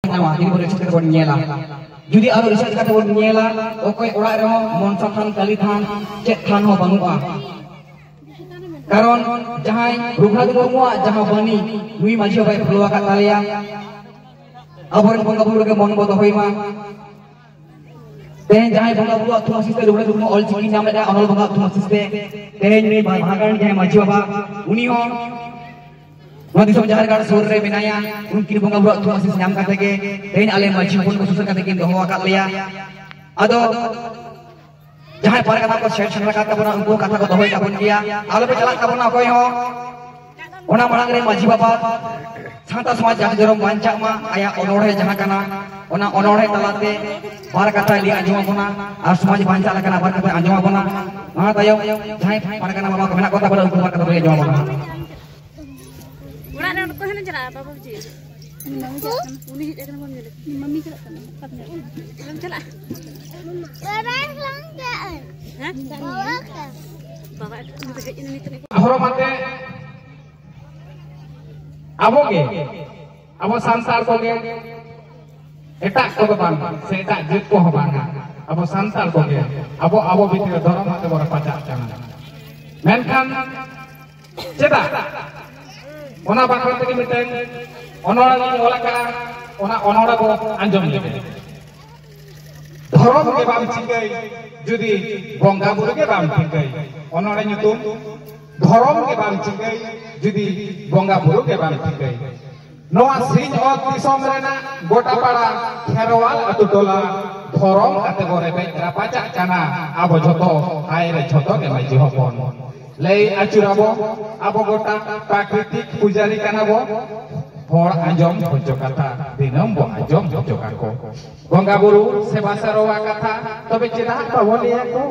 ᱧᱟᱢᱟ ᱡᱩᱫᱤ ᱵᱚᱱ ᱨᱤᱥᱟᱨᱪ ᱠᱟᱛᱮ ᱵᱚᱱ ᱧᱮᱞᱟ ᱡᱩᱫᱤ ᱟᱨᱚ ᱨᱤᱥᱟᱨᱪ ᱠᱟᱛᱮ ᱵᱚᱱ ᱧᱮᱞᱟ ᱚᱠᱚᱭ ᱚᱲᱟᱜ ᱨᱮᱦᱚᱸ ᱢᱚᱱᱥᱟ ᱛᱷᱟᱱ ᱠᱟᱞᱤ ᱛᱷᱟᱱ ᱪᱮᱫ ᱛᱷᱟᱱ ᱦᱚᱸ ᱵᱟᱹᱱᱩᱜᱼᱟ ᱠᱟᱨᱚᱱ ᱡᱟᱦᱟᱸᱭ ᱨᱚᱜᱷᱩᱱᱟᱛᱷ ᱢᱩᱨᱢᱩᱣᱟᱜ ᱡᱟᱦᱟᱸ ᱵᱟᱹᱱᱤ ᱱᱩᱭ ᱢᱟᱹᱡᱷᱤ ᱵᱟᱭ ᱯᱷᱚᱞᱚ ᱟᱠᱟᱫ ᱛᱟᱞᱮᱭᱟ ᱟᱵᱚᱨᱮᱱ ᱵᱚᱸᱜᱟ ᱵᱩᱨᱩ ᱨᱮᱜᱮ ᱢᱚᱱ ᱵᱚ ᱫᱚᱦᱚᱭ ᱢᱟ ᱛᱮᱦᱮᱧ ᱡᱟᱦᱟᱸᱭ ᱵᱚᱸᱜᱟ ᱵᱩᱨᱩ ᱟᱛᱩ ᱟᱥᱤᱥ ᱛᱮ ᱨᱩᱜᱷᱩᱱᱟᱛᱷ ᱢᱩᱨᱢᱩ ᱚᱞ ᱪᱤᱠᱤ ᱧᱟᱢ ᱞᱮᱫᱟ ᱚᱱᱚᱞ ᱵᱚᱸᱜᱟ ᱟᱛᱩ ᱟᱥᱤᱥ ᱛᱮ ᱛᱮᱦᱮᱧ ᱩᱱᱤ ᱵᱷᱟᱜᱟᱱ ᱡᱟᱦᱟᱸᱭ ᱢᱟᱹᱡᱷᱤ ᱵᱟᱵᱟ ᱩᱱᱤ ᱦᱚᱸ ᱱᱚᱣᱟ ᱫᱤᱥᱚᱢ ᱡᱟᱦᱮᱨ ᱜᱟᱲ ᱥᱩᱨ ᱨᱮ ᱢᱮᱱᱟᱭᱟ ᱩᱱᱠᱤᱱ ᱵᱚᱸᱜᱟ ᱵᱩᱨᱩ ᱟᱛᱩ ᱟᱥᱤᱥ ᱧᱟᱢ ᱠᱟᱛᱮ ᱜᱮ ᱛᱮᱦᱮᱧ ᱟᱞᱮ ᱢᱟᱹᱡᱷᱤ ᱦᱚᱯᱚᱱ ᱠᱚ ᱥᱩᱥᱟᱹᱨ ᱠᱟᱛᱮ ᱠᱤᱱ ᱫᱚᱦᱚ ᱟᱠᱟᱫ ᱞᱮᱭᱟ ᱟᱫᱚ ᱡᱟᱦᱟᱸᱭ ᱯᱟᱨᱮ ᱠᱟᱛᱷᱟ ᱠᱚ ᱥᱮᱴ ᱥᱮᱴ ᱟᱠᱟᱫ ᱛᱟᱵᱚᱱᱟ ᱩᱱᱠᱩ ᱠᱟᱛᱷᱟ ᱠᱚ ᱫᱚᱦᱚᱭ ᱛᱟᱵᱚᱱ ᱜᱮᱭᱟ ᱟᱞᱚ ᱯᱮ ᱪᱟᱞᱟᱜ ᱛᱟᱵᱚᱱᱟ ᱚᱠᱚᱭ ᱦᱚᱸ ᱚᱱᱟ ᱢᱟᱲᱟᱝ ᱨᱮ ᱢᱟᱹᱡᱷᱤ ᱵᱟᱵᱟ ᱥᱟᱶᱛᱟ ᱥᱚᱢᱟᱡᱽ ᱡᱟᱦᱟᱸ ᱡᱚᱨᱚᱢ ᱵᱟᱧᱪᱟᱜ ᱢᱟ ᱟᱭᱟᱜ ᱚᱱᱚᱲᱦᱮ ᱡᱟᱦᱟᱸ ᱠᱟᱱᱟ ᱚᱱᱟ ᱚᱱᱚᱲᱦᱮ ᱛᱟᱞᱟᱛᱮ ᱵᱟᱨ ᱠᱟᱛᱷᱟᱭ ᱞᱟᱹᱭ ᱟᱸᱡᱚᱢ ᱟᱵᱚᱱᱟ ᱟᱨ ᱥᱚᱢᱟᱡᱽ ᱵᱟᱧᱪᱟᱜ ᱞᱮᱠᱟᱱᱟᱜ ᱵᱟᱨ ᱠᱟᱛᱷᱟᱭ ᱟᱸᱡᱚᱢ ᱟᱵᱚᱱᱟ ᱚᱱᱟ ᱛᱟᱭᱚᱢ ᱡᱟᱦᱟᱸᱭ ᱯᱟᱨᱜᱟᱱᱟ ᱵᱟᱵᱟ ᱠᱚ ᱢᱮᱱᱟᱜ ᱠᱚ ᱛᱟᱵᱚᱱᱟ ᱩᱱᱠᱩ ᱵᱟᱨ ᱠᱟᱛᱷᱟ ᱞᱟᱹᱭ ᱟᱸᱡᱚᱢ ᱟᱵᱚᱱᱟ ᱚᱲᱟᱜ ᱨᱮ ᱚᱠᱚᱭ ᱦᱚᱸ ᱪᱟᱞᱟᱜᱼᱟ ᱵᱟᱵᱟ ᱵᱩᱡᱷᱤ ᱩᱱᱤ ᱦᱮᱡ ᱟᱠᱟᱱᱟ ᱵᱟᱢ ᱧᱮᱞᱮ ᱢᱟᱢᱤ ᱪᱟᱞᱟᱜ ᱠᱟᱱᱟ ᱚᱠᱟᱢ ᱪᱟᱞᱟᱜᱼᱟ ᱦᱮᱸ ᱵᱟᱵᱟ ᱦᱮᱡ ᱮᱱᱟ ᱱᱤᱛᱚᱜ ᱦᱚᱨᱚᱜ ᱵᱟᱸᱫᱮ ᱟᱵᱚ ᱜᱮ ᱟᱵᱚ ᱥᱟᱱᱛᱟᱲ ᱠᱚᱜᱮ ᱮᱴᱟᱜ ᱠᱚᱫᱚ ᱵᱟᱝ ᱥᱮ ᱮᱴᱟᱜ ᱡᱟᱹᱛ ᱠᱚᱦᱚᱸ ᱵᱟᱝᱟ ᱟᱵᱚ ᱥᱟᱱᱛᱟᱲ ᱠᱚᱜᱮ ᱟᱵᱚ ᱟᱵᱚ ᱵᱷᱤᱛᱨᱤ ᱨᱮ ᱫᱷᱚᱨᱚᱢ ᱟᱛᱮ ᱵᱚᱱ ᱨᱟᱯᱟᱪᱟᱜ ᱠᱟᱱᱟ ᱢᱮᱱᱠᱷᱟᱱ ᱪᱮᱫᱟᱜ ᱚᱱᱟ ᱵᱟᱠᱷᱨᱟ ᱛᱮᱜᱮ ᱢᱤᱫᱴᱮᱱ ᱚᱱᱚᱲᱟᱞᱤᱧ ᱚᱞ ᱟᱠᱟᱫᱼᱟ ᱚᱱᱟ ᱚᱱᱚᱲᱟ ᱵᱚ ᱟᱸᱡᱚᱢ ᱞᱮᱜᱮ ᱫᱷᱚᱨᱚᱢ ᱜᱮ ᱵᱟᱢ ᱪᱤᱠᱟᱹᱭ ᱡᱩᱫᱤ ᱵᱚᱸᱜᱟ ᱵᱩᱨᱩ ᱜᱮ ᱵᱟᱢ ᱴᱷᱤᱠᱟᱹᱭ ᱚᱱᱚᱲᱟ ᱧᱩᱛᱩᱢ ᱫᱷᱚᱨᱚᱢ ᱜᱮ ᱵᱟᱢ ᱴᱷᱤᱠᱟᱹᱭ ᱡᱩᱫᱤ ᱵᱚᱸᱜᱟ ᱵᱩᱨᱩ ᱜᱮ ᱵᱟᱢ ᱴᱷᱤᱠᱟᱹᱭ ᱱᱚᱣᱟ ᱥᱤᱧ ᱚᱛ ᱫᱤᱥᱚᱢ ᱨᱮᱱᱟᱜ ᱜᱚᱴᱟᱯᱟᱲᱟ ᱠᱷᱮᱨᱣᱟᱞ ᱟᱛᱳ ᱴᱚᱞᱟ ᱫᱷᱚᱨᱚᱢ ᱟᱛᱮ ᱵᱚ ᱨᱮᱵᱮᱡ ᱨᱟᱯᱟᱪᱟᱜ ᱠᱟᱱᱟ ᱟᱵᱚ ᱡᱷᱚᱛᱚ ᱦᱟᱭ ᱨᱮ ᱡᱷᱚᱛᱚ ᱜᱮ ᱢᱟᱹᱡᱷᱤ ᱦᱚᱯᱚᱱ ᱞᱟᱹᱭ ᱟᱹᱪᱩᱨᱟᱵᱚ ᱟᱵᱚ ᱜᱚᱴᱟ ᱯᱨᱟᱠᱨᱤᱛᱤᱠ ᱯᱩᱡᱟᱨᱤ ᱠᱟᱱᱟ ᱵᱚ ᱦᱚᱲ ᱟᱸᱡᱚᱢ ᱦᱚᱪᱚ ᱠᱟᱛᱷᱟ ᱫᱤᱱᱟᱹᱢ ᱵᱚ ᱟᱸᱡᱚᱢ ᱦᱚᱪᱚ ᱠᱟᱠᱚ ᱵᱚᱸᱜᱟ ᱵᱩᱨᱩ ᱥᱮᱵᱟ ᱥᱟᱨᱣᱟ ᱠᱟᱛᱷᱟ ᱛᱚᱵᱮ ᱪᱮᱫᱟᱜ ᱵᱟᱵᱚ ᱞᱟᱹᱭᱟ ᱠᱚ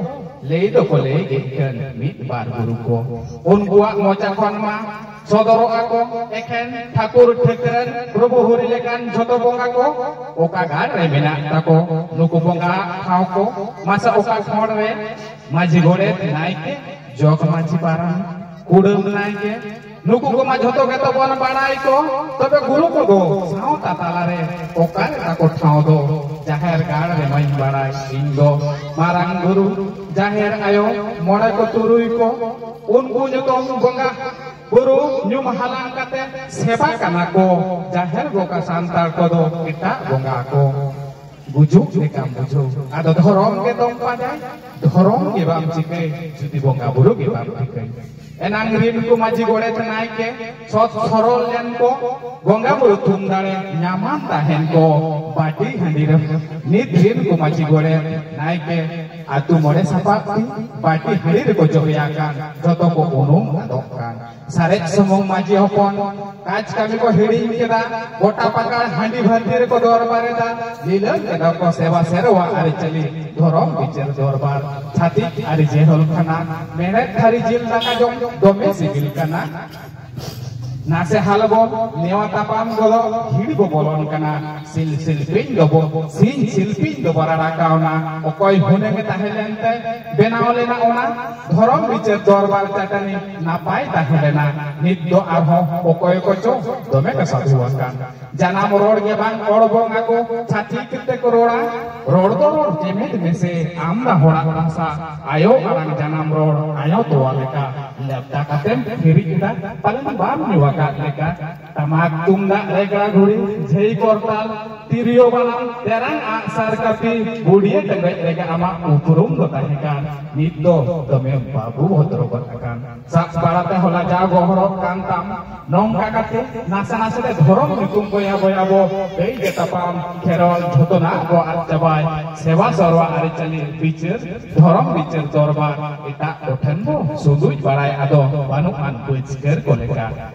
ᱞᱟᱹᱭ ᱫᱚᱠᱚ ᱞᱟᱹᱭ ᱜᱮ ᱠᱟᱱ ᱢᱤᱫ ᱵᱟᱨ ᱜᱩᱨᱩ ᱠᱚ ᱩᱱᱠᱩᱣᱟᱜ ᱢᱚᱪᱟ ᱠᱷᱚᱱ ᱢᱟ ᱥᱚᱫᱚᱨᱚᱜ ᱟᱠᱚ ᱮᱠᱷᱮᱱ ᱴᱷᱟᱠᱩᱨ ᱴᱷᱟᱹᱠᱨᱟᱹᱱ ᱯᱨᱚᱵᱷᱩ ᱦᱚᱨᱤ ᱞᱮᱠᱟᱱ ᱡᱷᱚᱛᱚ ᱵᱚᱸᱜᱟ ᱠᱚ ᱚᱠᱟ ᱜᱟᱲ ᱨᱮ ᱢᱮᱱᱟᱜ ᱛᱟᱠᱚ ᱱᱩᱠᱩ ᱵᱚᱸᱜᱟ ᱴᱷᱟᱶ ᱠᱚ ᱢᱟᱥᱟ ᱚᱠᱟ ᱠᱷᱚᱸᱰ ᱨᱮ ᱢᱟᱹᱡᱷᱤ ᱜᱚᱰᱮᱛ ᱱᱟᱭᱠᱮ ᱡᱚᱜᱽ ᱢᱟᱹᱡᱷᱤ ᱯᱟᱨᱟᱱᱤᱠ ᱠᱩᱰᱟᱹᱢ ᱱᱟᱭᱠᱮ ᱱᱩᱠᱩ ᱠᱚᱢᱟ ᱡᱷᱚᱛᱚ ᱜᱮᱛᱚ ᱵᱚᱱ ᱵᱟᱲᱟᱭ ᱠᱚ ᱛᱚᱵᱮ ᱜᱩᱨᱩ ᱠᱚᱫᱚ ᱥᱟᱶᱛᱟ ᱛᱟᱞᱟᱨᱮ ᱚᱠᱟᱨᱮ ᱛᱟᱠᱚ ᱴᱷᱟᱶ ᱫᱚ ᱡᱟᱦᱮᱨ ᱜᱟᱲ ᱨᱮ ᱢᱟᱹᱧ ᱵᱟᱲᱟᱭ ᱤᱧ ᱫᱚ ᱢᱟᱨᱟᱝ ᱜᱩᱨᱩ ᱡᱟᱦᱮᱨ ᱟᱭᱳ ᱢᱚᱬᱮ ᱠᱚ ᱛᱩᱨᱩᱭ ᱠᱚ ᱩᱱᱠᱩ ᱧᱩᱛᱩᱢ ᱵᱚᱸᱜᱟ ᱵᱩᱨᱩ ᱧᱩᱢ ᱦᱟᱞᱟᱝ ᱠᱟᱛᱮ ᱥᱮᱵᱟ ᱠᱟᱱᱟ ᱠᱚ ᱡᱟᱦᱮᱨ ᱵᱚᱸᱜᱟ ᱥᱟᱱᱛᱟᱲ ᱠᱚᱫᱚ ᱮᱴᱟᱜ ᱵᱚᱸᱜᱟ ᱠᱚ ᱜᱩᱡᱩᱜ ᱞᱮᱠᱟᱢ ᱵᱩᱡᱷᱟᱹᱣ ᱟᱫᱚ ᱫᱷᱚᱨᱚᱢ ᱜᱮ ᱫᱚᱢ ᱯᱟᱸᱡᱟᱭ ᱫᱷᱚᱨᱚᱢ ᱜᱮ ᱵᱟᱢ ᱪᱤᱠᱟᱹᱭ ᱡᱩᱫᱤ ᱵᱚᱸᱜᱟ ᱵᱩᱨᱩ ᱜᱮ ᱵᱟᱢ ᱴᱷᱤᱠᱟᱹᱭ ᱮᱱᱟᱝ ᱨᱤᱱ ᱠᱚ ᱢᱟᱹᱡᱷᱤ ᱜᱚᱲᱮᱛ ᱱᱟᱭᱠᱮ ᱥᱚᱛ ᱥᱚᱨᱚᱞ ᱞᱮᱱ ᱠᱚ ᱵᱚᱸᱜᱟ ᱵᱩᱨᱩ ᱛᱷᱩᱢ ᱫᱟᱲᱮ ᱧᱟᱢᱟᱱ ᱛᱟᱦᱮᱱ ᱠᱚ ᱵᱟᱹᱴᱤ ᱦᱟᱺᱰᱤ ᱨᱮ ᱱᱤᱛ ᱨᱤᱱ ᱠᱚ ᱢᱟᱹᱡᱷᱤ ᱜᱚᱲᱮᱛ ᱱᱟᱭᱠᱮ ᱟᱛᱩ ᱢᱚᱬᱮ ᱥᱟᱯᱟᱵ ᱛᱤ ᱵᱟᱹᱴᱤ ᱦᱟᱺᱰᱤ ᱨᱮᱠᱚ ᱡᱚᱵᱮᱭᱟᱠᱟᱱ ᱡᱚᱛᱚ ᱠᱚ ᱩᱱᱩᱢ ᱟᱫᱚᱜ ᱠᱟᱱ ᱥᱟᱨᱮᱡ ᱥᱩᱢᱩᱝ ᱢᱟᱹᱡᱷᱤ ᱦᱚᱯᱚᱱ ᱠᱟᱡᱽ ᱠᱟᱹᱢᱤ ᱠᱚ ᱦᱤᱲᱤᱧ ᱠᱮᱫᱟ ᱜᱚᱴᱟ ᱯᱟᱠᱟᱲ ᱦᱟᱺᱰᱤ ᱵᱷᱟᱹᱨᱛᱤ ᱨᱮᱠᱚ ᱫᱚᱨᱵᱟᱨᱮᱫᱟ ᱞᱤᱞᱟᱹᱢ ᱠᱮᱫᱟ ᱠᱚ ᱥᱮᱵᱟ ᱥᱮᱨᱣᱟ ᱟᱹᱨᱤᱪᱟᱹᱞᱤ ᱫᱷᱚᱨᱚᱢ ᱵᱤᱪᱟᱹᱨ ᱫᱚᱨᱵᱟᱨ ᱪᱷᱟᱹᱛᱤᱠ ᱟᱹᱨᱤ ᱡᱮᱦᱚᱞ ᱠᱟᱱᱟ ᱢᱮᱬᱦᱮᱫ ᱛᱷᱟᱹᱨᱤ ᱡᱤᱞ ᱫᱟᱠᱟ ᱡᱚᱢ ᱫᱚᱢᱮ ᱥᱤᱵᱤᱞ ᱠᱟᱱᱟ ᱱᱟᱥᱮ ᱦᱟᱞ ᱵᱚ ᱱᱮᱣᱟ ᱛᱟᱯᱟᱢ ᱜᱚᱫᱚ ᱦᱤᱲ ᱵᱚ ᱵᱚᱞᱚᱱ ᱠᱟᱱᱟ ᱥᱤᱞ ᱥᱤᱞᱯᱤᱧ ᱫᱚᱵᱚ ᱥᱤᱧ ᱥᱤᱞᱯᱤᱧ ᱫᱚᱵᱚ ᱨᱟᱲᱟ ᱠᱟᱣᱱᱟ ᱚᱠᱚᱭ ᱦᱩᱱᱟᱹᱝ ᱛᱟᱦᱮᱸ ᱞᱮᱱᱛᱮ ᱵᱮᱱᱟᱣ ᱞᱮᱱᱟ ᱚᱱᱟ ᱫᱷᱚᱨᱚᱢ ᱵᱤᱪᱟᱹᱨ ᱫᱚᱨᱵᱟᱨ ᱪᱟᱹᱴᱟᱹᱱᱤ ᱱᱟᱯᱟᱭ ᱛᱟᱦᱮᱸ ᱞᱮᱱᱟ ᱱᱤᱛ ᱫᱚ ᱟᱨᱦᱚᱸ ᱚᱠᱚᱭ ᱠᱚᱪᱚ ᱫᱚᱢᱮ ᱠᱚ ᱥᱟᱹᱫᱷᱩ ᱟᱠᱟᱱ ᱡᱟᱱᱟᱢ ᱨᱚᱲ ᱜᱮ ᱵᱟᱝ ᱨᱚᱲ ᱵᱚᱝ ᱟᱠᱚ ᱪᱷᱟᱹᱛᱤᱠ ᱛᱮᱠᱚ ᱨᱚᱲᱟ ᱨᱚᱲ ᱫᱚ ᱨᱚᱲ ᱪᱮᱢᱮᱫ ᱢᱮᱥᱮ ᱟᱢ ᱫᱟ ᱦᱚᱲᱟᱜ ᱵᱷᱟᱥᱟ ᱟᱭᱳ ᱟᱲᱟᱝ ᱡᱟᱱᱟᱢ ᱨᱚᱲ ᱟᱭᱳ ᱛᱚᱣᱟ ᱞᱮᱠᱟ ᱞᱮᱯᱴᱟ ᱠᱟᱛᱮᱢ ᱦᱤᱨᱤᱡ ᱮᱫᱟ ᱯᱟᱞᱮᱱ ᱵᱟᱢ ᱧᱩ ᱟᱠᱟᱫ ᱞᱮᱠᱟ ᱴᱟᱢᱟᱠ ᱛᱩᱢᱫᱟᱜ ᱨᱮᱜᱽᱲᱟ ᱜᱷᱩᱲᱤ ᱡᱷᱟᱹᱭ ᱠᱚᱨᱛᱟᱞ ᱛᱤᱨᱭᱳ ᱵᱟᱱᱟᱢ ᱛᱮᱨᱟᱝ ᱟᱜᱼᱥᱟᱨ ᱠᱟᱹᱯᱤ ᱵᱩᱰᱤᱭᱟᱹ ᱴᱮᱸᱜᱚᱡ ᱨᱮᱜᱮ ᱟᱢᱟᱜ ᱩᱯᱨᱩᱢ ᱫᱚ ᱛᱟᱦᱮᱸ ᱠᱟᱱ ᱱᱤᱛ ᱫᱚ ᱫᱚᱢᱮᱢ ᱵᱟᱹᱵᱩ ᱵᱷᱚᱫᱨᱚ ᱜᱚᱫ ᱟᱠᱟᱱ ᱥᱟᱵ ᱵᱟᱲᱟᱛᱮ ᱦᱚᱞᱟ ᱡᱟ ᱜᱚᱦᱚᱲᱚᱜ ᱠᱟᱱ ᱛᱟᱢ ᱱᱚᱝᱠᱟ ᱠᱟᱛᱮ ᱱᱟᱥᱮ ᱱᱟᱥᱮ ᱛᱮ ᱫᱷᱚᱨᱚᱢ ᱧᱩᱛᱩᱢ ᱵᱚᱭᱟ ᱵᱚᱭᱟ ᱵᱚ ᱠᱟᱹᱭ ᱜᱮ ᱛᱟᱯᱟᱢ ᱠᱷᱮᱨᱚᱞ ᱡᱷᱚᱛᱚᱱᱟᱜ ᱵᱚ ᱟᱫ ᱪᱟᱵᱟᱭ ᱥᱮᱵᱟ ᱥᱚᱨᱣᱟ ᱟᱹᱨᱤᱪᱟᱹᱞᱤ ᱵᱤᱪᱟᱹᱨ ᱫᱷᱚᱨᱚᱢ ᱵᱤᱪᱟᱹᱨ ᱫᱚᱨᱵᱟᱨ ᱮᱴᱟᱜ ᱠᱚᱴᱷᱮᱱ ᱵᱚ ᱥᱩᱫᱩᱡ ᱵᱟᱲᱟᱭ ᱟᱫᱚ ᱵᱟᱹᱱᱩᱜ ᱟᱱ ᱯᱟᱹᱪᱠᱟᱹᱨ ᱠᱚ ᱞᱮᱠᱟ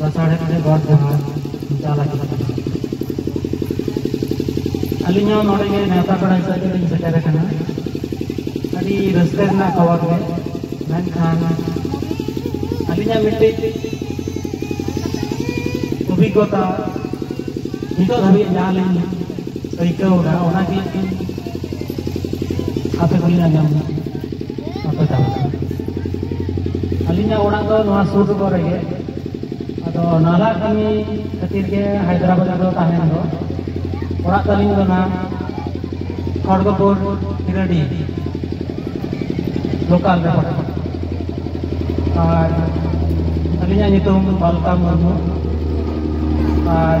ᱞᱟᱥᱟᱲᱦᱮᱫ ᱛᱮ ᱜᱚᱰ ᱡᱚᱦᱟᱨ ᱪᱟᱞ ᱟᱠᱟᱱᱟ ᱟᱹᱞᱤᱧ ᱦᱚᱸ ᱱᱚᱰᱮ ᱜᱮ ᱱᱮᱣᱛᱟ ᱯᱮᱲᱟ ᱦᱤᱥᱟᱹᱵ ᱛᱮᱞᱤᱧ ᱥᱮᱴᱮᱨ ᱟᱠᱟᱱᱟ ᱟᱹᱰᱤ ᱨᱟᱹᱥᱠᱟᱹ ᱨᱮᱱᱟᱜ ᱠᱷᱚᱵᱚᱨ ᱜᱮ ᱢᱮᱱᱠᱷᱟᱱ ᱟᱹᱞᱤᱧᱟᱜ ᱢᱤᱫᱴᱤᱡ ᱚᱵᱷᱤᱜᱽᱜᱚᱛᱟ ᱱᱤᱛᱚᱜ ᱫᱷᱟᱹᱵᱤᱡ ᱡᱟᱦᱟᱸ ᱞᱤᱧ ᱟᱹᱭᱠᱟᱹᱣ ᱮᱫᱟ ᱚᱱᱟᱜᱮ ᱟᱯᱮ ᱠᱚᱞᱤᱧ ᱟᱸᱡᱚᱢ ᱮᱫᱟ ᱟᱯᱮ ᱛᱟᱦᱚᱞᱮ ᱟᱹᱞᱤᱧᱟᱜ ᱚᱲᱟᱜ ᱫᱚ ᱱᱚᱣᱟ ᱥᱩᱨ ᱥᱩᱯᱩᱨ ᱨᱮᱜᱮ ᱟᱫᱚ ᱱᱟᱞᱟ ᱠᱟᱹᱢᱤ ᱠᱷᱟᱹᱛᱤᱨ ᱜᱮ ᱦᱟᱭᱫᱨᱟᱵᱟᱫᱽ ᱨᱮᱫᱚ ᱛᱟᱦᱮᱱ ᱫᱚ ᱚᱲᱟᱜ ᱛᱟᱹᱞᱤᱧ ᱫᱚ ᱱᱟᱦᱟᱜ ᱠᱷᱚᱲᱜᱚᱯᱩᱨ ᱦᱤᱨᱟᱹᱰᱤ ᱞᱳᱠᱟᱞ ᱨᱮ ᱯᱟᱲᱟᱜ ᱟᱨ ᱟᱹᱞᱤᱧᱟᱜ ᱧᱩᱛᱩᱢ ᱵᱟᱞᱠᱟ ᱢᱩᱨᱢᱩ ᱟᱨ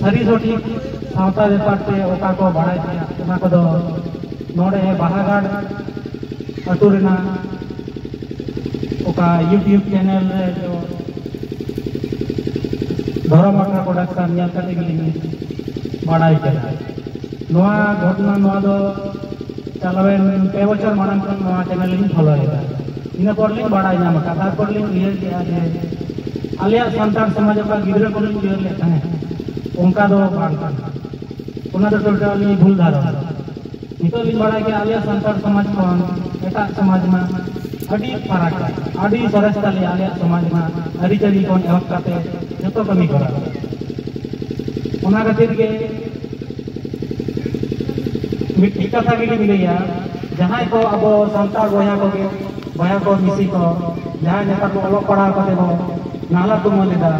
ᱥᱟᱹᱨᱤ ᱥᱚᱴᱷᱤᱠ ᱥᱟᱶᱛᱟ ᱵᱮᱯᱟᱨ ᱛᱮ ᱚᱠᱟ ᱠᱚ ᱵᱟᱲᱟᱭ ᱛᱮᱱᱟᱜ ᱚᱱᱟ ᱠᱚᱫᱚ ᱱᱚᱰᱮ ᱵᱟᱦᱟᱜᱟᱲ ᱟᱹᱛᱩ ᱨᱮᱱᱟᱜ ᱚᱠᱟ ᱭᱩᱴᱤᱭᱩᱵᱽ ᱪᱮᱱᱮᱞ ᱨᱮ ᱫᱚ ᱫᱷᱚᱨᱚᱢ ᱟᱠᱷᱲᱟ ᱯᱨᱚᱰᱟᱠᱥᱚᱱ ᱧᱮᱞ ᱠᱟᱛᱮ ᱜᱮᱞᱤᱧ ᱵᱟᱲᱟᱭ ᱠᱮᱫᱟ ᱱᱚᱣᱟ ᱜᱷᱚᱴᱚᱱᱟ ᱱᱚᱣᱟ ᱫᱚ ᱪᱟᱞᱟᱣᱮᱱ ᱯᱮ ᱵᱚᱪᱷᱚᱨ ᱢᱟᱲᱟᱝ ᱠᱷᱚᱱ ᱱᱚᱣᱟ ᱪᱮᱱᱮᱞ ᱞᱤᱧ ᱯᱷᱳᱞᱳᱭᱮᱫᱟ ᱤᱱᱟᱹ ᱯᱚᱨ ᱞᱤᱧ ᱵᱟᱲᱟᱭ ᱧᱟᱢ ᱟᱠᱟᱫ ᱛᱟᱨᱯᱚᱨ ᱞᱤᱧ ᱩᱭᱦᱟᱹᱨ ᱠᱮᱫᱼᱟ ᱡᱮ ᱟᱞᱮᱭᱟᱜ ᱥᱟᱱᱛᱟᱲ ᱥᱚᱢᱟᱡᱽ ᱚᱠᱟ ᱜᱤᱫᱽᱨᱟᱹ ᱠᱚᱞᱤᱧ ᱩᱭᱦᱟᱹᱨ ᱞᱮᱫ ᱛᱟᱦᱮᱸᱫ ᱚᱱᱠᱟ ᱫᱚ ᱵᱟᱝ ᱠᱟᱱᱟ ᱚᱱᱟ ᱫᱚ ᱴᱳᱴᱟᱞ ᱞᱤᱧ ᱵᱷᱩᱞ ᱫᱷᱟᱨᱚᱱᱟ ᱱᱤᱛᱚᱜ ᱞᱤᱧ ᱵᱟᱲᱟᱭ ᱠᱮᱫᱼᱟ ᱟᱞᱮᱭᱟᱜ ᱥᱟᱱᱛᱟᱲ ᱥᱚᱢᱟᱡᱽ ᱠᱷᱚᱱ ᱮᱴᱟᱜ ᱥᱚᱢᱟᱡᱽ ᱢᱟ ᱟᱹᱰᱤ ᱯᱷᱟᱨᱟᱠ ᱟᱹᱰᱤ ᱥᱚᱨᱮᱥ ᱛᱟᱞᱮ ᱟᱞᱮᱭᱟᱜ ᱥᱚᱢᱟᱡᱽ ᱢᱟ ᱟᱹᱨᱤᱪᱟᱹᱞᱤ ᱠᱷᱚᱱ ᱮᱦᱚᱵ ᱠᱟᱛᱮ ᱡᱚᱛᱚ ᱠᱟᱹᱢᱤ ᱠᱚᱨᱟᱣ ᱚᱱᱟ ᱠᱷᱟᱹᱛᱤᱨ ᱜᱮ ᱢᱤᱫᱴᱤᱡ ᱠᱟᱛᱷᱟ ᱜᱮᱞᱤᱧ ᱞᱟᱹᱭᱟ ᱡᱟᱦᱟᱸᱭ ᱠᱚ ᱟᱵᱚ ᱥᱟᱱᱛᱟᱲ ᱵᱚᱭᱦᱟ ᱠᱚᱜᱮ ᱵᱚᱭᱦᱟ ᱠᱚ ᱢᱤᱥᱤ ᱠᱚ ᱡᱟᱦᱟᱸᱭ ᱱᱮᱛᱟᱨ ᱵᱚ ᱚᱞᱚᱜ ᱯᱟᱲᱦᱟᱣ ᱠᱟᱛᱮ ᱵᱚ ᱱᱟᱦᱞᱟ ᱛᱩᱢᱟᱹᱞ ᱮᱫᱟ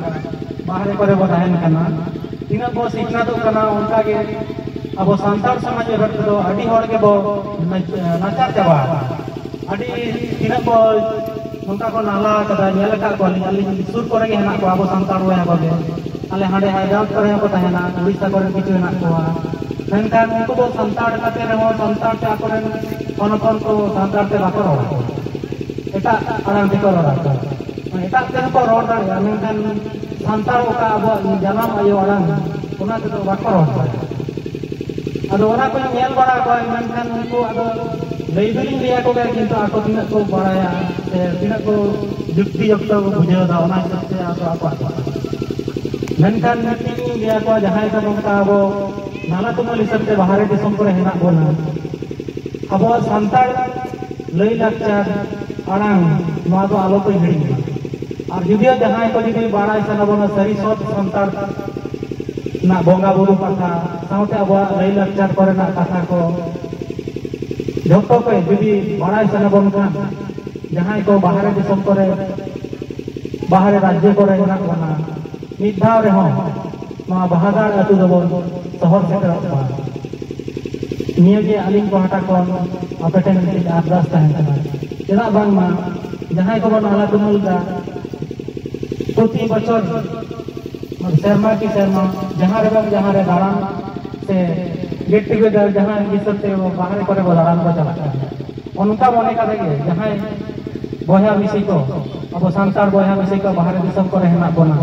ᱵᱟᱦᱨᱮ ᱠᱚᱨᱮ ᱵᱚ ᱛᱟᱦᱮᱱ ᱠᱟᱱᱟ ᱛᱤᱱᱟᱹᱜ ᱵᱚ ᱥᱤᱠᱷᱱᱟᱹᱛᱚᱜ ᱠᱟᱱᱟ ᱚᱱᱠᱟ ᱜᱮ ᱟᱵᱚ ᱥᱟᱱᱛᱟᱲ ᱥᱚᱢᱟᱡᱽ ᱨᱮᱱ ᱠᱚᱫᱚ ᱟᱹᱰᱤ ᱦᱚᱲ ᱜᱮᱵᱚ ᱱᱟᱪᱟᱨ ᱪᱟᱵᱟ ᱟᱠᱟᱱᱟ ᱟᱹᱰᱤ ᱛᱤᱱᱟᱹᱜ ᱵᱚ ᱱᱚᱝᱠᱟ ᱠᱚ ᱱᱟᱦᱞᱟ ᱟᱠᱟᱫᱟ ᱧᱮᱞ ᱟᱠᱟᱫ ᱠᱚᱣᱟᱞᱤᱧ ᱟᱹᱞᱤᱧ ᱥᱩᱨ ᱠᱚᱨᱮ ᱜᱮ ᱦᱮᱱᱟᱜ ᱠᱚᱣᱟ ᱟᱵᱚ ᱥᱟᱱᱛᱟᱲ ᱵᱚᱭᱦᱟ ᱠᱚᱜᱮ ᱟᱞᱮ ᱦᱟᱸᱰᱮ ᱦᱟᱭᱫᱨᱟᱵᱟᱫᱽ ᱠᱚᱨᱮ ᱦᱚᱸᱠᱚ ᱛᱟᱦᱮᱱᱟ ᱩᱲᱤᱥᱥᱟ ᱠᱚᱨᱮ ᱠᱤᱪᱷᱩ ᱦᱮᱱᱟᱜ ᱠᱚᱣᱟ ᱢᱮᱱᱠᱷᱟᱱ ᱩᱱᱠᱩ ᱫᱚ ᱥᱟᱱᱛᱟᱲ ᱠᱟᱛᱮ ᱨᱮᱦᱚᱸ ᱥᱟᱱᱛᱟᱲ ᱛᱮ ᱟᱠᱚᱨᱮᱱ ᱦᱚᱱ ᱦᱚᱯᱚᱱ ᱠᱚ ᱥᱟᱱᱛᱟᱲ ᱛᱮ ᱵᱟᱠᱚ ᱨᱚᱲᱟ ᱮᱴᱟᱜ ᱟᱲᱟᱝ ᱛᱮᱠᱚ ᱨᱚᱲᱟ ᱠᱚ ᱮᱴᱟᱜ ᱛᱮᱦᱚᱸ ᱠᱚ ᱨᱚᱲ ᱫᱟᱲᱮᱭᱟᱜᱼᱟ ᱢᱮᱱᱠᱷᱟᱱ ᱥᱟᱱᱛᱟᱲ ᱚᱠᱟ ᱟᱵᱚᱣᱟᱜ ᱡᱟᱱᱟᱢ ᱟᱭᱳ ᱟᱲᱟᱝ ᱚᱱᱟ ᱛᱮᱫᱚ ᱵᱟᱠᱚ ᱨᱚᱲ ᱫᱟᱲᱮᱭᱟᱜᱼᱟ ᱟᱫᱚ ᱚᱱᱟ ᱠᱚᱧ ᱧᱮᱞ ᱵᱟᱲᱟ ᱠᱚᱣᱟ ᱢᱮᱱᱠᱷᱟᱱ ᱩᱱᱠᱩ ᱟᱫᱚ ᱞᱟᱹᱭ ᱫᱚᱞᱤᱧ ᱞᱟᱹᱭ ᱟᱠᱚ ᱜᱮᱭᱟ ᱠᱤᱱᱛᱩ ᱟᱠᱚ ᱛᱤᱱᱟᱹᱜ ᱠᱚ ᱵᱟᱲᱟᱭᱟ ᱥᱮ ᱛᱤᱱᱟᱹᱜ ᱠᱚ ᱡᱩᱠᱛᱤ ᱡᱚᱠᱛᱚ ᱠᱚ ᱵᱩᱡᱷᱟᱹᱣ ᱮᱫᱟ ᱚᱱᱟ ᱦᱤᱥᱟᱹᱵ ᱛᱮ ᱟᱫᱚ ᱟᱠᱚᱣᱟᱜ ᱠᱟᱛᱷᱟ ᱢᱮᱱᱠᱷᱟᱱ ᱢᱤᱫᱴᱤᱡ ᱞᱤᱧ ᱞᱟᱹᱭ ᱟᱠᱚᱣᱟ ᱡᱟᱦᱟᱸᱭ ᱫᱚ ᱱᱚᱝᱠᱟ ᱟᱵᱚ ᱱᱟᱞᱟ ᱛᱩᱢᱟᱹᱞ ᱦᱤᱥᱟᱹᱵ ᱛᱮ ᱵᱟᱦᱨᱮ ᱫᱤᱥᱚᱢ ᱠᱚᱨᱮ ᱦᱮᱱᱟᱜ ᱵᱚᱱᱟ ᱟᱵᱚᱣᱟᱜ ᱥᱟᱱᱛᱟᱲ ᱞᱟᱹᱭ ᱞᱟᱠᱪᱟᱨ ᱟᱲᱟᱝ ᱱᱚᱣᱟ ᱫᱚ ᱟᱞᱚ ᱯᱮ ᱦᱤᱲᱤᱧ ᱢᱟ ᱟᱨ ᱡᱩᱫᱤᱭᱳ ᱡᱟᱦᱟᱸᱭ ᱠᱚ ᱡᱩᱫᱤ ᱵᱟᱲᱟᱭ ᱥᱟᱱᱟ ᱵᱚᱱᱟ ᱥᱟᱹᱨᱤ ᱥᱚᱛ ᱥᱟᱱᱛᱟᱲ ᱱᱟᱜ ᱵᱚᱸᱜᱟ ᱵᱩᱨᱩ ᱠᱟᱛᱷᱟ ᱥᱟᱶᱛᱮ ᱟᱵᱚᱣᱟᱜ ᱞᱟᱹᱭ ᱞᱟᱠᱪᱟᱨ ᱠᱚᱨᱮᱱᱟᱜ ᱠᱟᱛᱷᱟ ᱠᱚ ᱡᱚᱛᱚ ᱠᱚ ᱡᱩᱫᱤ ᱵᱟᱲᱟᱭ ᱥᱟᱱᱟ ᱵᱚᱱ ᱠᱷᱟᱱ ᱡᱟᱦᱟᱸᱭ ᱠᱚ ᱵᱟᱦᱨᱮ ᱫᱤᱥᱚᱢ ᱠᱚᱨᱮ ᱵᱟᱦᱨᱮ ᱨᱟᱡᱽᱡᱚ ᱠᱚᱨᱮ ᱢᱮᱱᱟᱜ ᱵᱚᱱᱟ ᱢᱤᱫ ᱫᱷᱟᱣ ᱨᱮᱦᱚᱸ ᱱᱚᱣᱟ ᱵᱟᱦᱟᱜᱟᱲ ᱟᱹᱛᱩ ᱫᱚᱵᱚᱱ ᱥᱚᱦᱚᱨ ᱥᱮᱴᱮᱨᱚᱜ ᱢᱟ ᱱᱤᱭᱟᱹᱜᱮ ᱟᱹᱞᱤᱧ ᱯᱟᱦᱴᱟ ᱠᱷᱚᱱ ᱟᱯᱮ ᱴᱷᱮᱱ ᱢᱤᱫᱴᱤᱡ ᱟᱨᱫᱟᱥ ᱛᱟᱦᱮᱱ ᱠᱟᱱᱟ ᱪᱮᱫᱟᱜ ᱵᱟᱝᱢᱟ ᱡᱟᱦᱟᱸᱭ ᱠᱚᱵᱚᱱ ᱟᱞᱟ ᱛᱩᱢᱟᱹᱞ ᱮᱫᱟ ᱯᱨᱚᱛᱤ ᱵᱚᱪᱷᱚᱨ ᱥᱮᱨᱢᱟ ᱠᱤ ᱥᱮᱨᱢᱟ ᱡᱟᱦᱟᱸ ᱨᱮ ᱵᱟᱝ ᱡᱟᱦᱟᱸ ᱨᱮ ᱫᱟᱬᱟᱱ ᱥᱮ ᱜᱮᱴ ᱴᱩᱜᱮᱫᱟᱨ ᱡᱟᱦᱟᱸ ᱦᱤᱥᱟᱹᱵ ᱛᱮ ᱵᱟᱦᱨᱮ ᱠᱚᱨᱮ ᱵᱚ ᱫᱟᱬᱟᱱ ᱠᱚ ᱪᱟᱞᱟᱜ ᱠᱟᱱᱟ ᱚᱱᱠᱟ ᱢᱚᱱᱮ ᱠᱟᱛᱮ ᱜᱮ ᱡᱟᱦᱟᱸᱭ ᱵᱚᱭᱦᱟ ᱢᱤᱥᱤ ᱠᱚ ᱟᱵᱚ ᱥᱟᱱᱛᱟᱲ ᱵᱚᱭᱦᱟ ᱢᱤᱥᱤ ᱠᱚ ᱵᱟᱦᱨᱮ ᱫᱤᱥᱚᱢ ᱠᱚᱨᱮ ᱦᱮᱱᱟᱜ ᱵᱚᱱᱟ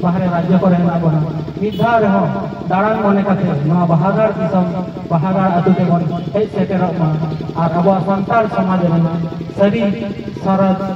ᱵᱟᱦᱨᱮ ᱨᱟᱡᱽᱡᱚ ᱠᱚᱨᱮ ᱦᱮᱱᱟᱜ ᱵᱚᱱᱟ ᱢᱤᱫ ᱫᱷᱟᱣ ᱨᱮᱦᱚᱸ ᱫᱟᱬᱟᱱ ᱢᱚᱱᱮ ᱠᱟᱛᱮ ᱱᱚᱣᱟ ᱵᱟᱦᱟᱜᱟᱲ ᱫᱤᱥᱚᱢ ᱵᱟᱦᱟᱜᱟᱲ ᱟᱛᱳ ᱛᱮᱵᱚᱱ ᱦᱮᱡ ᱥᱮᱴᱮᱨᱚᱜ ᱢᱟ ᱟᱨ ᱟᱵᱚᱣᱟᱜ ᱥᱟᱱᱛᱟᱲ ᱥᱚᱢᱟᱡᱽ ᱨᱮᱱᱟᱜ ᱥᱟᱹᱨᱤ ᱥᱚᱨᱚᱥ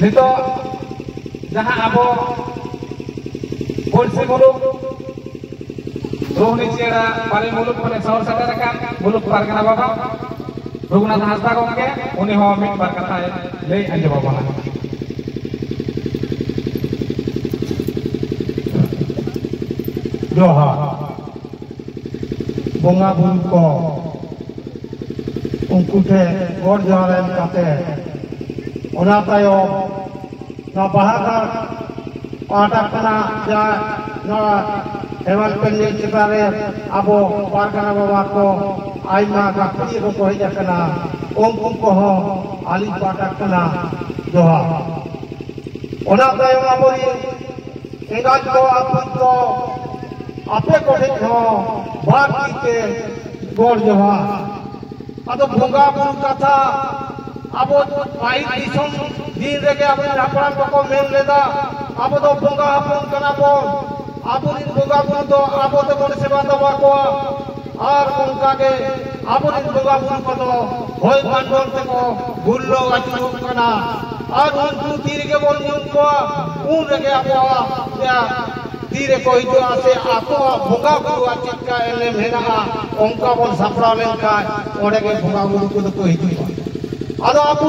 ᱱᱤᱛᱚᱜ ᱡᱟᱦᱟᱸ ᱟᱵᱚ ᱯᱩᱲᱥᱤ ᱢᱩᱞᱩᱠ ᱨᱳᱦᱱᱤ ᱪᱮᱬᱟ ᱵᱟᱨᱮ ᱢᱩᱞᱩᱠ ᱠᱷᱚᱱᱮ ᱥᱚᱦᱚᱨ ᱥᱮᱴᱮᱨ ᱟᱠᱟᱱ ᱢᱩᱞᱩᱠ ᱯᱟᱨᱜᱟᱱᱟ ᱵᱟᱵᱟ ᱨᱚᱜᱷᱩᱱᱟᱛᱷ ᱦᱟᱸᱥᱫᱟ ᱜᱚᱢᱠᱮ ᱩᱱᱤ ᱦᱚᱸ ᱢᱤᱫ ᱵᱟᱨ ᱠᱟᱛᱷᱟᱭ ᱞᱟᱹᱭ ᱟᱸᱡᱚᱢ ᱟᱵᱚᱱᱟ ᱡᱚᱦᱟᱨ ᱵᱚᱸᱜᱟ ᱵᱩᱨᱩ ᱠᱚ ᱩᱱᱠᱩ ᱴᱷᱮᱱ ᱜᱚᱰ ᱡᱚᱦᱟᱨ ᱮᱢ ᱠᱟᱛᱮ ᱚᱱᱟ ᱛᱟᱭᱚᱢ ᱱᱚᱣᱟ ᱵᱟᱦᱟ ᱜᱟᱲ ᱯᱟᱦᱴᱟ ᱠᱷᱚᱱᱟᱜ ᱡᱟ ᱱᱚᱣᱟ ᱦᱮᱢᱟᱞ ᱯᱮᱱᱰᱮᱞ ᱪᱮᱛᱟᱱ ᱨᱮ ᱟᱵᱚ ᱯᱟᱨᱜᱟᱱᱟ ᱵᱟᱵᱟ ᱠᱚ ᱟᱭᱢᱟ ᱜᱟᱹᱠᱷᱩᱲᱤᱭᱟᱹ ᱠᱚᱠᱚ ᱦᱮᱡ ᱟᱠᱟᱱᱟ ᱩᱱᱠᱩ ᱠᱚᱦᱚᱸ ᱟᱹᱞᱤᱧ ᱯᱟᱦᱴᱟ ᱠᱷᱚᱱᱟᱜ ᱡᱚᱦᱟᱨ ᱚᱱᱟ ᱛᱟᱭᱚᱢ ᱟᱵᱚᱨᱤᱱ ᱮᱸᱜᱟᱡ ᱠᱚ ᱟᱹᱯᱩᱡ ᱠᱚ ᱟᱯᱮ ᱠᱚᱴᱷᱮᱡ ᱦᱚᱸ ᱵᱟᱨ ᱛᱤ ᱛᱮ ᱜᱚᱲ ᱡᱚᱦᱟᱨ ᱟᱫᱚ ᱵᱚᱸᱜᱟ ᱵᱩᱨᱩ ᱠᱟᱛᱷᱟ ᱟᱵᱚ ᱯᱟᱹᱦᱤᱞ ᱫᱤᱥᱚᱢ ᱫᱤᱱ ᱨᱮᱜᱮ ᱟᱵᱚ ᱦᱟᱯᱲᱟᱢ ᱠᱚᱠᱚ ᱢᱮᱱ ᱞᱮᱫᱟ ᱟᱵᱚ ᱫᱚ ᱵᱚᱸᱜᱟ ᱦᱚᱯᱚᱱ ᱠᱟᱱᱟ ᱵᱚᱱ ᱟᱵᱚᱨᱮᱱ ᱵᱚᱸᱜᱟ ᱵᱩᱨᱩ ᱫᱚ ᱟᱵᱚ ᱛᱮᱵᱚᱱ ᱥᱮᱵᱟ ᱫᱟᱵᱟ ᱠᱚᱣᱟ ᱟᱨ ᱚᱱᱠᱟ ᱜᱮ ᱟᱵᱚᱨᱮᱱ ᱵᱚᱸᱜᱟ ᱵᱩᱨᱩ ᱠᱚᱫᱚ ᱦᱚᱭ ᱯᱟᱱᱰᱚᱞ ᱛᱮᱠᱚ ᱜᱩᱨᱞᱟᱹᱣ ᱟᱹᱪᱩᱨᱚᱜ ᱠᱟᱱᱟ ᱟᱨ ᱩᱱᱠᱩ ᱛᱤ ᱨᱮᱜᱮ ᱵᱚᱱ ᱧᱩᱢ ᱠᱚᱣᱟ ᱩᱱ ᱨᱮᱜᱮ ᱟᱵᱚᱣᱟᱜ ᱛᱤ ᱨᱮᱠᱚ ᱦᱤᱡᱩᱜᱼᱟ ᱥᱮ ᱟᱠᱚᱣᱟᱜ ᱵᱚᱸᱜᱟ ᱵᱩᱨᱩᱣᱟᱜ ᱪᱮᱫᱠᱟ ᱮᱱᱮᱢ ᱦᱮᱱᱟᱜᱼᱟ ᱚᱱᱠᱟ ᱵᱚᱱ ᱥᱟᱯᱲᱟᱣ ᱞᱮᱱᱠᱷᱟᱱ ᱚᱸᱰᱮ ᱜᱮ ᱵᱚᱸᱜᱟ ᱵᱩᱨᱩ ᱠᱚᱫᱚ ᱠᱚ ᱦᱤᱡᱩᱜᱼᱟ ᱟᱫᱚ ᱟᱵᱚ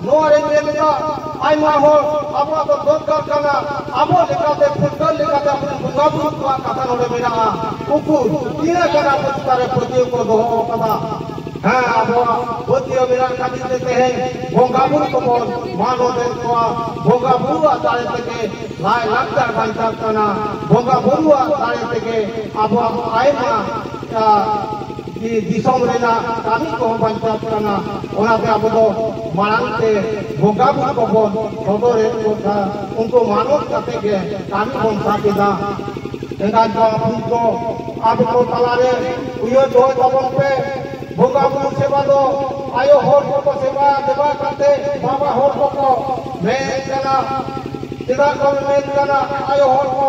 ᱱᱚᱣᱟ ᱨᱮ ᱧᱮᱞ ᱞᱮᱠᱟ ᱟᱭᱢᱟ ᱦᱚᱲ ᱟᱵᱚᱣᱟᱜ ᱫᱚ ᱫᱚᱨᱠᱟᱨ ᱠᱟᱱᱟ ᱟᱵᱚ ᱞᱮᱠᱟᱛᱮ ᱯᱷᱩᱴᱵᱚᱞ ᱞᱮᱠᱟᱛᱮ ᱟᱵᱚ ᱵᱚᱸᱜᱟ ᱵᱩᱨᱩ ᱠᱚᱣᱟᱜ ᱠᱟᱛᱷᱟ ᱱᱚᱰᱮ ᱢᱮᱱᱟᱜᱼᱟ ᱩᱱᱠᱩ ᱛᱤᱱᱟᱹᱜ ᱜᱟᱱ ᱟᱵᱚ ᱪᱮᱛᱟᱱ ᱨᱮ ᱯᱟᱹᱛᱭᱟᱹᱣ ᱠᱚ ᱫᱚᱦᱚ ᱟᱠᱟᱫᱟ ᱦᱮᱸ ᱟᱵᱚᱣᱟᱜ ᱯᱟᱹᱛᱭᱟᱹᱣ ᱢᱮᱱᱟᱜ ᱠᱷᱟᱹᱛᱤᱨ ᱛᱮ ᱛᱮᱦᱮᱧ ᱵᱚᱸᱜᱟ ᱵᱩᱨᱩ ᱠᱚᱵᱚᱱ ᱢᱟᱱᱚᱛ ᱮᱫ ᱠᱚᱣᱟ ᱵᱚᱸᱜᱟ ᱵᱩᱨᱩᱣᱟᱜ ᱫᱟᱲᱮ ᱛᱮᱜᱮ ᱞᱟᱭ ᱞᱟᱠᱪᱟᱨ ᱵᱟᱧᱪᱟᱜ ᱠᱟᱱᱟ ᱵᱚᱸᱜᱟ ᱵᱩᱨᱩᱣᱟᱜ ᱫᱟᱲᱮ ᱛᱮᱜᱮ ᱟᱵᱚᱣᱟᱜ ᱟᱭᱢᱟ ᱠᱤ ᱫᱤᱥᱚᱢ ᱨᱮᱱᱟᱜ ᱠᱟᱹᱢᱤ ᱠᱚᱦᱚᱸ ᱵᱟᱧᱪᱟᱜ ᱠᱟᱱᱟ ᱚᱱᱟᱛᱮ ᱟᱵᱚ ᱫᱚ ᱢᱟᱲᱟᱝ ᱛᱮ ᱵᱚᱸᱜᱟ ᱵᱩᱨᱩ ᱠᱚᱵᱚᱱ ᱥᱚᱫᱚᱨᱮᱫ ᱠᱚ ᱠᱷᱟᱱ ᱩᱱᱠᱩ ᱢᱟᱱᱚᱛ ᱠᱟᱛᱮ ᱜᱮ ᱠᱟᱹᱢᱤ ᱵᱚᱱ ᱥᱟᱵ ᱮᱫᱟ ᱮᱸᱜᱟᱛ ᱵᱟᱯᱩ ᱠᱚ ᱟᱵᱚ ᱠᱚ ᱛᱟᱞᱟᱨᱮ ᱩᱭᱦᱟᱹᱨ ᱫᱚᱦᱚᱭ ᱛᱟᱵᱚᱱ ᱯᱮ ᱵᱚᱸᱜᱟ ᱵᱩᱨᱩ ᱥᱮᱵᱟ ᱫᱚ ᱟᱭᱳ ᱦᱚᱲ ᱠᱚᱠᱚ ᱥᱮᱵᱟ ᱫᱮᱵᱟ ᱠᱟᱛᱮ ᱵᱟᱵᱟ ᱦᱚᱲ ᱠᱚᱠᱚ ᱢᱮᱱ ᱠᱟᱱᱟ ᱪᱮᱫᱟᱜ ᱠᱚ ᱢᱮᱱ ᱠᱟᱱᱟ ᱟᱭᱳ ᱦᱚᱲ ᱠᱚ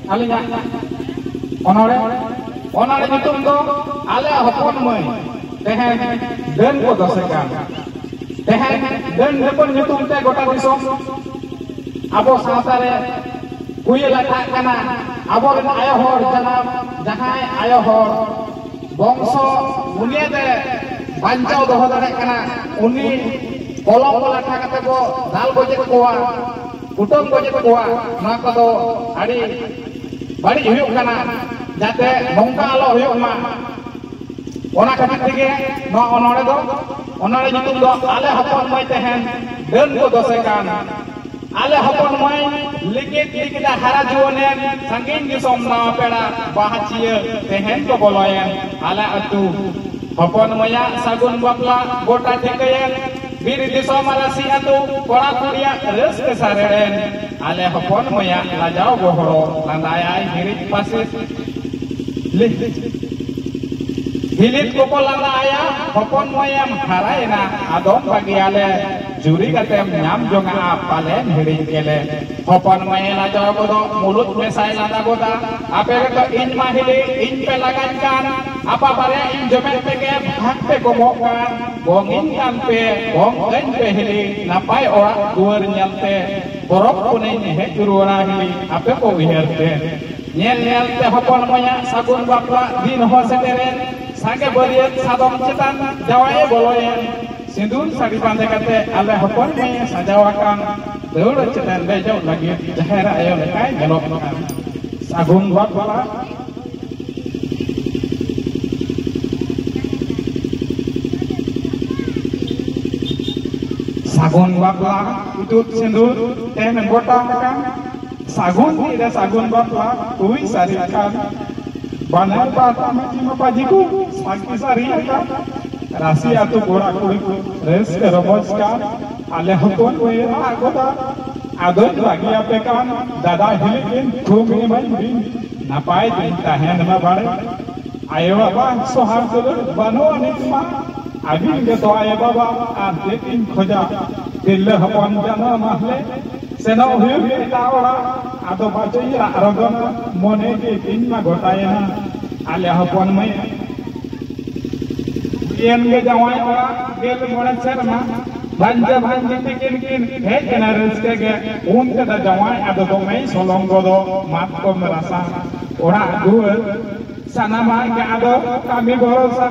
ᱟᱹᱞᱤᱧᱟᱜ ᱚᱱᱚᱲᱮ ᱚᱱᱚᱲᱮ ᱧᱩᱛᱩᱢ ᱫᱚ ᱟᱞᱮᱭᱟᱜ ᱦᱚᱯᱚᱱ ᱢᱟᱹᱭ ᱛᱮᱦᱮᱧ ᱰᱟᱹᱱ ᱠᱚ ᱫᱚᱥᱮ ᱠᱟᱱ ᱛᱮᱦᱮᱧ ᱰᱟᱹᱱ ᱰᱟᱹᱯᱟᱹᱱ ᱧᱩᱛᱩᱢ ᱛᱮ ᱜᱚᱴᱟ ᱫᱤᱥᱚᱢ ᱟᱵᱚ ᱥᱟᱶᱛᱟ ᱨᱮ ᱦᱩᱭ ᱞᱟᱴᱷᱟᱜ ᱠᱟᱱᱟ ᱟᱵᱚᱨᱮᱱ ᱟᱭᱳ ᱦᱚᱲ ᱡᱟᱱᱟᱢ ᱡᱟᱦᱟᱸᱭ ᱟᱭᱳ ᱦᱚᱲ ᱵᱚᱝᱥᱚ ᱵᱩᱱᱤᱭᱟᱹᱫ ᱨᱮ ᱵᱟᱧᱪᱟᱣ ᱫᱚᱦᱚ ᱫᱟᱲᱮᱭᱟᱜ ᱠᱟᱱᱟ ᱩᱱᱤ ᱠᱚᱞᱚᱢ ᱞᱟᱴᱷᱟ ᱠᱟᱛᱮ ᱠᱚ ᱫᱟᱞ ᱜᱚᱡᱮᱫ ᱠᱚᱣᱟ ᱠᱩᱴᱟᱹᱢ ᱜᱚᱡᱮᱫ ᱠᱚᱣᱟ ᱱᱚᱣᱟ ᱠᱚᱫᱚ ᱟᱹᱰᱤ ᱵᱟᱹᱲᱤᱡ ᱦᱩᱭᱩᱜ ᱠᱟᱱᱟ ᱡᱟᱛᱮ ᱱᱚᱝᱠᱟ ᱟᱞᱚ ᱦᱩᱭᱩᱜ ᱢᱟ ᱚᱱᱟ ᱠᱷᱟᱹᱛᱤᱨ ᱛᱮᱜᱮ ᱱᱚᱣᱟ ᱚᱱᱚᱲᱮ ᱫᱚ ᱚᱱᱚᱲᱮ ᱧᱩᱛᱩᱢ ᱫᱚ ᱟᱞᱮ ᱦᱚᱯᱚᱱ ᱢᱟᱹᱭ ᱛᱟᱦᱮᱱ ᱰᱟᱹᱱ ᱠᱚ ᱫᱚᱥᱮ ᱠᱟᱱ ᱟᱞᱮ ᱦᱚᱯᱚᱱ ᱢᱟᱹᱭ ᱞᱤᱠᱤᱫ ᱞᱤᱠᱤᱫᱟ ᱦᱟᱨᱟ ᱡᱩᱣᱟᱹᱱᱮᱱ ᱥᱟᱺᱜᱤᱧ ᱫᱤᱥᱚᱢ ᱱᱟᱣᱟ ᱯᱮᱲᱟ ᱵᱟᱦᱟᱪᱤᱭᱟᱹ ᱛᱮᱦᱮᱧ ᱠᱚ ᱵᱚᱞᱚᱭᱮᱱ ᱟᱞᱮ ᱟᱹᱛᱩ ᱦᱚᱯᱚᱱ ᱢᱟᱹᱭᱟᱜ ᱥᱟᱹᱜᱩᱱ ᱵᱟᱯᱞᱟ ᱜᱚᱴᱟ ᱴᱷᱤᱠᱟᱹᱭᱮᱱ ᱵᱤᱨ ᱫᱤᱥᱚᱢ ᱨᱟᱹᱥᱤ ᱟᱹᱛᱩ ᱠᱚᱲᱟ ᱠᱩᱲᱤᱭᱟ ᱨᱟᱹᱥᱠᱟᱹ ᱥᱟᱨᱮᱲᱮᱱ ᱟᱞᱮ ᱦᱚᱯᱚᱱ ᱢᱟᱹᱭᱟ ᱞᱟᱡᱟᱣ ᱜᱚᱦᱚᱲᱚ ᱞᱟᱸᱫᱟᱭᱟᱭ ᱦᱤᱨᱤᱡ ᱯᱟᱥᱮᱡ ᱦᱤᱞᱤᱛ ᱠᱚᱠᱚ ᱞᱟᱸᱫᱟ ᱟᱭᱟ ᱦᱚᱯᱚᱱ ᱢᱟᱹᱭᱟᱢ ᱦᱟᱨᱟᱭᱮᱱᱟ ᱟᱫᱚᱢ ᱵᱟᱹᱜᱤᱭᱟᱞᱮ ᱡᱩᱨᱤ ᱠᱟᱛᱮᱢ ᱧᱟᱢ ᱡᱚᱝᱟᱜᱼᱟ ᱯᱟᱞᱮᱱ ᱦᱤᱲᱤᱧ ᱜᱮᱞᱮ ᱦᱚᱯᱚᱱ ᱢᱟᱹᱭ ᱞᱟᱡᱟᱣ ᱜᱚᱫᱚ ᱢᱩᱞᱩᱡ ᱢᱮᱥᱟᱭ ᱞᱟᱸᱫᱟ ᱜᱚᱫᱟ ᱟᱯᱮ ᱜᱮᱛᱚ ᱤᱧ ᱢᱟ ᱦᱤᱞᱤ ᱤᱧ ᱯᱮ ᱞᱟᱜᱟᱧ ᱠᱟᱱ ᱟᱯᱟ ᱵᱟᱨᱭᱟ ᱤᱧ ᱡᱚᱢᱮᱫ ᱛᱮᱜᱮ ᱵᱷᱟᱜᱽ ᱯᱮ ᱠᱚᱢᱚᱜ ᱠᱟᱱ ᱵᱚᱝ ᱤᱧ ᱠᱟᱱ ᱯᱮ ᱵᱚᱝ ᱠᱟᱹᱧ ᱯᱮ ᱦᱤᱞᱤ ᱱᱟᱯᱟᱭ ᱚᱲᱟᱜ ᱫᱩᱣᱟᱹᱨ ᱧᱮᱞ ᱛᱮ ᱯᱚᱨᱚᱵᱽ ᱯᱩᱱᱟᱹᱭ ᱦᱮᱡ ᱨᱩᱣᱟᱹᱲᱟ ᱦᱤᱞᱤ ᱟᱯᱮ ᱠᱚ ᱩᱭᱦᱟᱹᱨ ᱛᱮ ᱧᱮᱞ ᱧᱮᱞ ᱛᱮ ᱦᱚᱯᱚᱱ ᱢᱟᱭᱟ ᱥᱟᱹᱜᱩᱱ ᱵᱟᱯᱞᱟ ᱫᱤᱱ ᱦᱚᱸ ᱥᱮᱴᱮᱨᱮᱱ ᱥᱟᱸᱜᱮ ᱵᱟᱹᱨᱭᱟᱹᱛ ᱥᱟᱫᱚᱢ ᱪᱮᱛᱟᱱ ᱡᱟᱶᱟᱭᱮ ᱵᱚᱞᱚᱭᱮᱱ ᱥᱤᱸᱫᱩᱨ ᱥᱟᱹᱲᱤ ᱵᱟᱸᱫᱮ ᱠᱟᱛᱮ ᱟᱞᱮ ᱦᱚᱯᱚᱱ ᱢᱟᱹᱭᱮ ᱥᱟᱡᱟᱣ ᱟᱠᱟᱱ ᱫᱟᱹᱣᱲᱟᱹ ᱪᱮᱛᱟᱱ ᱫᱮᱡᱚᱜ ᱞᱟᱹᱜᱤᱫ ᱡᱟᱦᱮᱨ ᱟᱭᱳ ᱞᱮᱠᱟᱭ ᱧᱮᱞᱚᱜ ᱠᱟᱱ ᱥᱟᱹᱜᱩᱱ ᱵᱟᱯᱞᱟ ᱥᱟᱜᱩᱱ ᱵᱟᱯᱞᱟ ᱤᱛᱩᱫ ᱥᱤᱸᱫᱩᱨ ᱛᱮᱢ ᱜᱚᱴᱟ ᱟᱠᱟᱱ ᱥᱟᱜᱩᱱ ᱛᱤᱨᱮ ᱥᱟᱜᱩᱱ ᱵᱟᱯᱞᱟ ᱦᱩᱭ ᱥᱟᱹᱨᱤ ᱟᱠᱟᱱ ᱵᱟᱱᱟᱨ ᱯᱟᱦᱴᱟ ᱢᱟᱹᱡᱷᱤ ᱢᱟᱯᱟᱡᱷᱤ ᱠᱚ ᱥᱟᱹᱠᱷᱤ ᱥᱟᱹᱨᱤ ᱟᱠᱟᱱ ᱨᱟᱥᱤ ᱟᱛᱳ ᱠᱚᱲᱟ ᱠᱩᱲᱤ ᱠᱚ ᱨᱟᱹᱥᱠᱟᱹ ᱨᱚᱢᱚᱡᱽ ᱠᱟᱱ ᱟᱞᱮ ᱦᱚᱯᱚᱱ ᱵᱟᱹᱭ ᱟᱜ ᱜᱚᱫᱟ ᱟᱫᱚᱧ ᱵᱟᱹᱜᱤᱭᱟᱯᱮ ᱠᱟᱱ ᱫᱟᱫᱟ ᱦᱤᱞᱤ ᱠᱤᱱ ᱛᱷᱩᱢ ᱮᱢᱟᱹᱧ ᱵᱤᱱ ᱱᱟᱯᱟᱭ ᱫᱤᱱ ᱛᱟᱦᱮᱱ ᱢᱟ ᱵᱟᱲᱮ ᱟᱭᱳ ᱵᱟᱵᱟ ᱥᱚᱦᱟᱨ ᱫᱩᱞᱟᱹᱲ ᱵᱟᱹᱱᱩᱜᱼᱟ ᱱᱤᱛ ᱢᱟ ᱟᱹᱵᱤᱱ ᱜᱮᱛᱚ ᱟᱭᱳ ᱵᱟᱵᱟ ᱟᱨ ᱪᱮᱫ ᱤᱧ ᱠᱷᱚᱡᱟ ᱛᱤᱨᱞᱟᱹ ᱦᱚᱯᱚᱱ ᱡᱟᱱᱟᱢ ᱢᱟᱦᱞᱮ ᱥᱮᱱᱚᱜ ᱦᱩᱭᱩᱜ ᱮᱴᱟᱜ ᱚᱲᱟᱜ ᱟᱫᱚ ᱵᱟᱪᱚᱧ ᱨᱟᱜ ᱨᱚᱜᱚᱱᱟ ᱢᱚᱱᱮ ᱜᱮ ᱤᱧ ᱢᱟ ᱜᱚᱴᱟᱭᱮᱱᱟ ᱟᱞᱮ ᱦᱚᱯᱚᱱ ᱢᱟᱹᱭ ᱮᱱ ᱜᱮ ᱡᱟᱶᱟᱭ ᱚᱲᱟᱜ ᱜᱮᱞ ᱢᱚᱬᱮ ᱥᱮᱨᱢᱟ ᱵᱷᱟᱧᱡᱟ ᱵᱷᱟᱧᱡᱤ ᱛᱤᱠᱤᱱ ᱠᱤᱱ ᱦᱮᱡ ᱮᱱᱟ ᱨᱟᱹᱥᱠᱟᱹ ᱜᱮ ᱩᱱ ᱛᱮᱫᱚ ᱡᱟᱶᱟᱭ ᱟᱫᱚ ᱫᱚᱢᱮᱭ ᱥᱚᱞᱚᱢ ᱜᱚᱫᱚ ᱢᱟᱛᱠᱚᱢ ᱨᱟᱥᱟ ᱚᱲᱟᱜ ᱫᱩᱣᱟᱹᱨ ᱥᱟᱱᱟᱢᱟᱜ ᱜᱮ ᱟᱫᱚ ᱠᱟᱹᱢᱤ ᱵᱷᱚᱨᱚᱥᱟ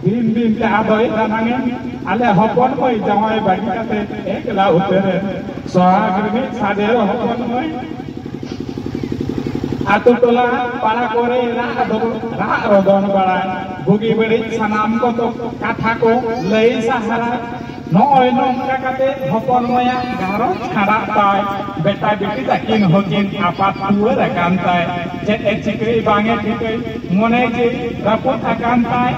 ᱫᱤᱱ ᱫᱤᱱ ᱛᱮ ᱟᱫᱚᱭ ᱫᱟᱱᱟᱝᱮᱱ ᱟᱞᱮ ᱦᱚᱯᱚᱱ ᱢᱟᱹᱭ ᱡᱟᱶᱟᱭ ᱵᱟᱹᱜᱤ ᱠᱟᱛᱮ ᱮᱠᱞᱟ ᱩᱛᱟᱹᱨᱮᱱ ᱥᱚᱦᱟᱜ ᱨᱤᱱᱤᱡ ᱥᱟᱫᱮᱨ ᱦᱚᱯᱚᱱ ᱢᱟᱹᱭ ᱟᱛᱳ ᱴᱚᱞᱟ ᱯᱟᱲᱟ ᱠᱚᱨᱮ ᱨᱟᱜ ᱨᱚᱫᱚᱱ ᱵᱟᱲᱟᱭ ᱵᱩᱜᱤ ᱵᱟᱹᱲᱤᱡ ᱥᱟᱱᱟᱢ ᱠᱚ ᱠᱟᱛᱷᱟ ᱠᱚ ᱞᱟᱹᱭ ᱥᱟᱦᱟᱨᱟ ᱱᱚᱜᱼᱚᱭ ᱱᱚᱝᱠᱟ ᱠᱟᱛᱮ ᱦᱚᱯᱚᱱ ᱢᱟᱭᱟ ᱜᱷᱟᱨᱚᱸᱡᱽ ᱠᱷᱟᱸᱰᱟᱜ ᱛᱟᱭ ᱵᱮᱴᱟ ᱵᱤᱴᱤ ᱛᱟᱹᱠᱤᱱ ᱦᱚᱸᱠᱤᱱ ᱟᱯᱟᱛ ᱴᱩᱣᱟᱹᱨ ᱟᱠᱟᱱ ᱛᱟᱭ ᱪᱮᱫ ᱮ ᱪᱤᱠᱟᱹᱭ ᱵᱟᱝ ᱮ ᱴᱷᱤᱠᱟᱹᱭ ᱢᱚᱱᱮ ᱡᱤᱣᱤ ᱨᱟᱹᱯᱩᱫ ᱟᱠᱟᱱ ᱛᱟᱭ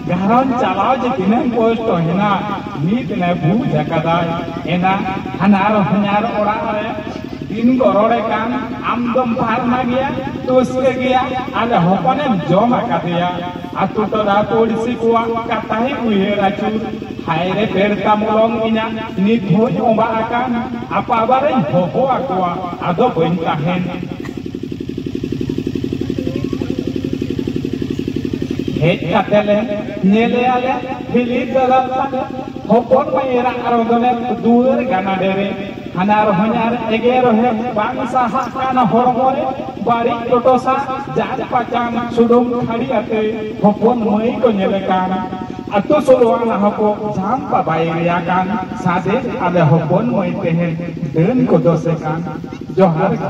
ᱜᱷᱟᱨᱚᱸᱡᱽ ᱪᱟᱞᱟᱣ ᱡᱮ ᱛᱤᱱᱟᱹᱜ ᱠᱚᱥᱴᱚ ᱦᱮᱱᱟᱜ ᱱᱤᱛ ᱱᱮ ᱵᱩᱡᱽ ᱟᱠᱟᱫᱟᱭ ᱮᱱᱟ ᱦᱟᱱᱟᱨ ᱦᱚᱧᱟᱨ ᱚᱲᱟᱜ ᱨᱮ ᱫᱤᱱ ᱠᱚ ᱨᱚᱲᱮ ᱠᱟᱱ ᱟᱢ ᱫᱚᱢ ᱯᱟᱨᱢᱟ ᱜᱮᱭᱟ ᱛᱩᱥᱠᱟᱹ ᱜᱮᱭᱟ ᱟᱨ ᱦᱚᱯᱚᱱᱮᱢ ᱡᱚᱢ ᱟᱠᱟᱫᱮᱭᱟ ᱟᱛᱳ ᱴᱚᱞᱟ ᱯᱩᱲᱥᱤ ᱠᱚᱣᱟᱜ ᱠᱟᱛᱷᱟᱭ ᱩᱭᱦᱟᱹᱨ ᱟᱹᱪᱩᱨ ᱦᱟᱭ ᱨᱮ ᱯᱮᱲᱛᱟ ᱢᱚᱞᱚᱝ ᱤᱧᱟᱹᱜ ᱱᱤᱛ ᱦᱚᱸᱧ ᱚᱸᱵᱟ ᱟᱠᱟᱱ ᱟᱯᱟᱵᱟᱨᱮᱧ ᱦᱚᱦᱚ ᱟᱠᱚᱣᱟ ᱟᱫᱚ ᱵᱟᱹᱧ ᱛᱟᱦᱮᱱ ᱦᱮᱡ ᱠᱟᱛᱮ ᱞᱮ ᱧᱮᱞᱮᱭᱟᱞᱮ ᱦᱤᱞᱤ ᱫᱟᱫᱟ ᱦᱚᱯᱚᱱ ᱢᱟᱹᱭ ᱮᱨᱟ ᱟᱨᱚ ᱫᱚᱞᱮ ᱫᱩᱣᱟᱹᱨ ᱜᱟᱱᱟᱰᱮ ᱨᱮ ᱦᱟᱱᱟᱨ ᱦᱚᱧᱟᱨ ᱮᱜᱮᱨ ᱦᱮᱡ ᱵᱟᱝ ᱥᱟᱦᱟᱜ ᱠᱟᱱ ᱦᱚᱲᱢᱚ ᱨᱮ ᱵᱟᱹᱲᱤᱡ ᱴᱚᱴᱚᱥᱟ ᱡᱟᱱ ᱯᱟᱪᱟᱱ ᱥᱩᱰᱩᱢ ᱠᱷᱟᱹᱲᱤ ᱟᱛᱮ ᱦᱚᱯᱚᱱ ᱢᱟᱹᱭ ᱠᱚ ᱧᱮᱞ ᱠᱟᱱ ᱟᱛᱳ ᱥᱳᱞᱳᱣᱟᱱ ᱦᱚᱸᱠᱚ ᱡᱟᱱ ᱯᱟᱵᱟᱭ ᱨᱮᱭᱟ ᱠᱟᱱ ᱥᱟᱫᱮ ᱟᱞᱮ ᱦᱚᱯᱚᱱ ᱢᱟᱹᱭ ᱛᱮᱦᱮᱧ ᱰᱟᱹᱱ ᱠᱚ ᱫᱚᱥᱮ ᱠᱟᱱ ᱡᱚᱦᱟᱨ ᱜᱮ